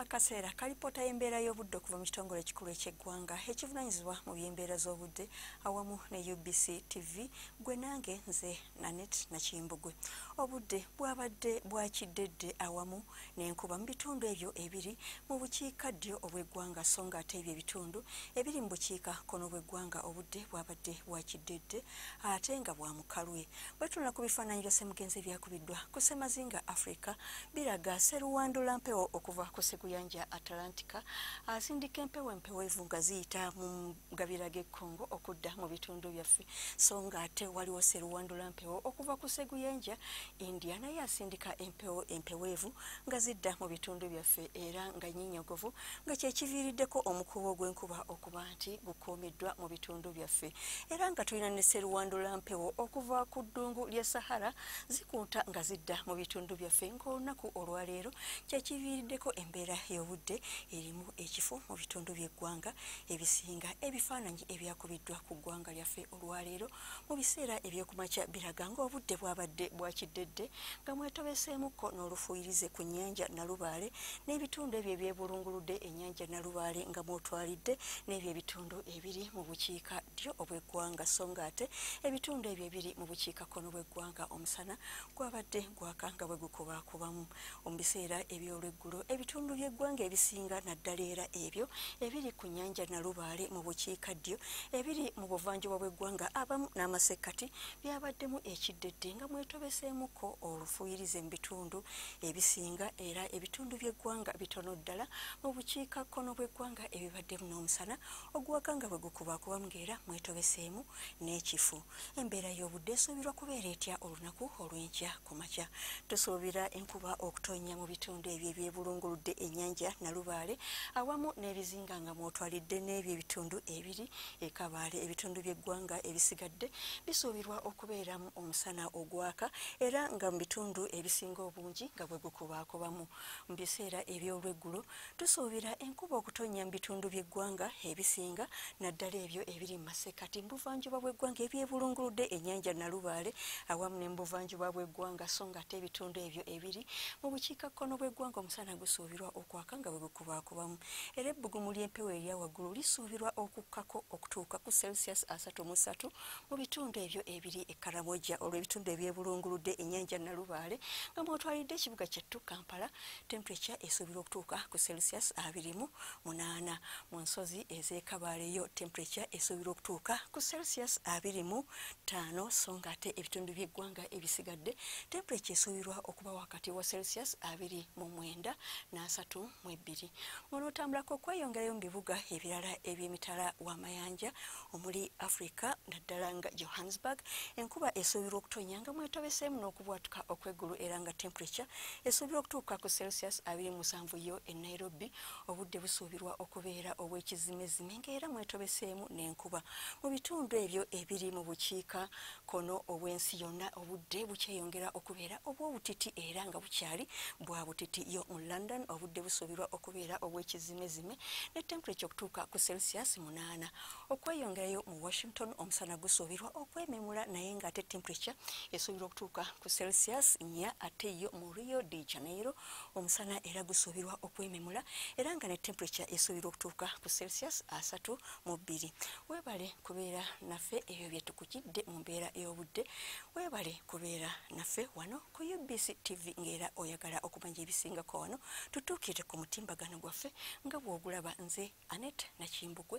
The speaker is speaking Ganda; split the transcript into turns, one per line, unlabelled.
akaseera kalipoota y'embeera y'obudde okuva mu kitongole ekikulu eky'eggwanga ekivunanyizibwa mu by'embeera z'obudde awamu ne ubc tv gwe nange nze nanet nakimbugwe obudde bwabadde bwakiddedde awamu n'enkuba mu bitundu ebyo ebiri mu bukiika ddyo obw'eggwanga so nga ate ebyo ebitundu ebiri mu bukiika kono bw'eggwanga obudde bwabadde bwakiddedde ate nga bwa mukalwe Bwetunula ku bifaananyi bya Semugenzi ebyakubiddwa ku Semazinga Africa biraga seruwandula mpewo okuva ku seguyanja Atlantika asindika empewo empewevu nga ziyita mu gabira g'e Congo okudda mu bitundu byaffe so nga ate waliwo seruwandula mpewo okuva ku seguyanja India naye asindika empewo empeweevu nga zidda mu bitundu byaffe era nga nyinyogovu nga kyekiviiriddeko omukuubo gw'enkuba okuba nti gukuumiddwa mu bitundu byaffe era nga tulina ne seruwandula mpewo okuva ku ddungu lya sahara zikunta nga zidda mu bitundu byaffe ng'olunaku olwaleero kyekiviiriddeko embeera y'obudde erimu ekifo mu bitundu by'eggwanga ebisinga ebifaananyi ebyakubiddwa ku ggwanga lyaffe olwaleero mu biseera ebyekumakya biraga ng'obudde bwabadde bwakiddedde nga mwetobeseemukko n'olufuuyirize ku nnyanja nalubaale n'ebitundu ebyo ebyebulunguludde ennyanja nalubaale nga mwotwalidde n'ebyo ebitundu ebiri mu bukiika ddyo obw'eggwanga so nga ate ebitundu ebyo ebiri mu bukiikakkono bw'eggwanga omusana gwabadde gwaka nga bwe gukubaakubamu Mu biseera eby'olweggulo ebitundu by'eggwanga ebisinga naddala era ebyo ebiri ku nnyanja Nalubaale mu bukiikaddyo ebiri mu buvanjuba bw'eggwanga abamu n'amasekkati byabaddemu ekiddedde nga mwetobeseemukko olufuyirize mu bitundu ebisinga era ebitundu by'eggwanga bitono ddala mu bukiika kkono bw'eggwanga ebibaddemu n'omusana ogwaka nga bwe gukubaakubamu ng'era mwetobeseemu n'ekifu. Embeera y'obudde esuubirwa kubeera etya olunaku olw'enkya ku makya? Tusuubira enkuba okutonnya mu bitundu ebyo ebyebulunguludde ennyanja Nalubaale awamu n'ebizinga nga mw'otwalidde n'ebyo ebitundu ebiri e Kabaale. Ebitundu by'eggwanga ebisigadde bisuubirwa okubeeramu omusana ogwaka era nga mu bitundu ebisinga obungi nga bwe gukubaakubamu. Mu biseera eby'olweggulo Tusuubira enkuba okutonnya mu bitundu by'eggwanga ebisinga naddala ebyo ebiri mu masekkati mu buvanjuba bw'eggwanga ebyebulunguludde ennyanja Nalubaale awamu ne mu buvanjuba bw'eggwanga so ng'ate ebitundu ebyo ebiri mu bukiikakkono bw'eggwanga omusana gusuubirwa okwaka nga bwe gukubaakubamu era ebbugumu ly'empewo erya waggulu lisuubirwa okukkako okutuuka ku celsius asatu mu ssatu mu bitundu ebyo ebiri e Karamoja olw'ebitundu ebyebulunguludde ennyanja Nalubaale nga mwotwalidde ekibuga kyattu Kampala Temperature esuubirwa okutuuka ku Celsius abiri mu munaana. Mu nsozi ez'e Kabale yo temperature esuubirwa okutuuka ku Celsius abiri mu ttaano so ng'ate ebitundu by'eggwanga ebisigadde temperature esuubirwa okuba wakati wa Celsius abiri mu mwenda n'asatu mu ebbiri. Munootambulako okweyongerayo mu bibuga ebirala eby'emitala w'amayanja omuli africa naddala nga johannesburg enkuba esuubirwa okutonya nga mwetobeseemu n'okubwatuka okw'eggulu era nga temperature esuubirwa okutuuka ku celsius 27 yo e nairobi obudde busuubirwa okubeera obw'ekizimezime ngaera mwetobeseemu n'enkuba mu bitundu ebyo ebiri mu bukiika kono obw'ensi yonna obudde bukyeyongera okubeera obw'obutiti era nga bukyali bwa butiti yo mu london obudde busuubirwa okubeera obw'ekizimezime ne temperature okutuuka ku celsius munaana okweyongerayo mu washington omusana gusuubirwa okwememula naye ng'ate temperature esuubirwa okutuuka ku celsius nya ate yo mu rio de janeiro omusana era gusuubirwa okwememula era nga ne temperature esuubirwa okutuuka ku celsius asatu mu bbiri weebale kubeera naffe ebyo byetukujidde mu mbeera ey'obudde weebale kubeera naffe wano Ku UBC TV ng'era oyagala okumanya ebisingako wano tutuukire ku mutimbagano gwaffe nga bw'ogulaba nze Anet Nakimbugwe.